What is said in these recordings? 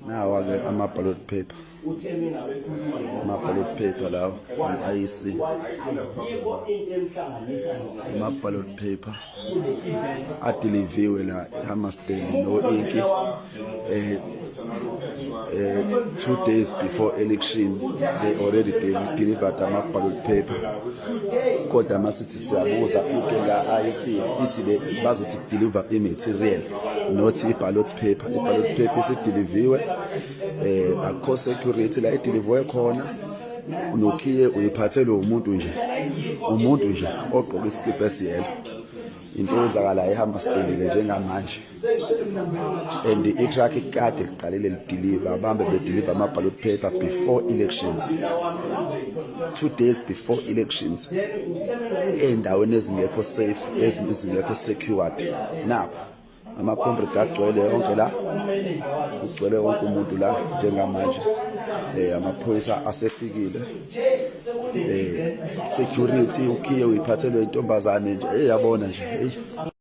nawa-ke ama-ballot paper ama-ballot paper lawa i-ic ama-ballot paper adiliviwe la ehamasteni no-inki eh, eh, two days before election they already delivered ama-ballot paper kodwa siyabuza into la IC ithi le bazothi deliver i-material not i-ballot paper i-ballot paper isidiliviwe eh akukho security la idiliviwe khona unokhiye uyiphathelwe umuntu nje umuntu nje ogqoke isikibha esiyelo into eyenzakalayo ihamba sibhekile njengamanje and itruck ikade liqalile lidiliva abambe bediliva ama-ballot paper before elections two days before elections ey'ndaweni ezingekho safe ezingekho secured nakho ama-comrade agcwele yonke la kugcwele wonke umuntu la njengamanje um amaphoyisa asefikile um security ukhiye uyiphathelwe intombazane nje eyabona nje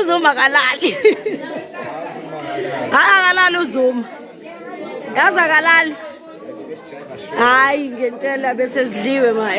uzuma kalali hayi akalali uzuma yazi akalali hayi ngentshela besesidliwe ma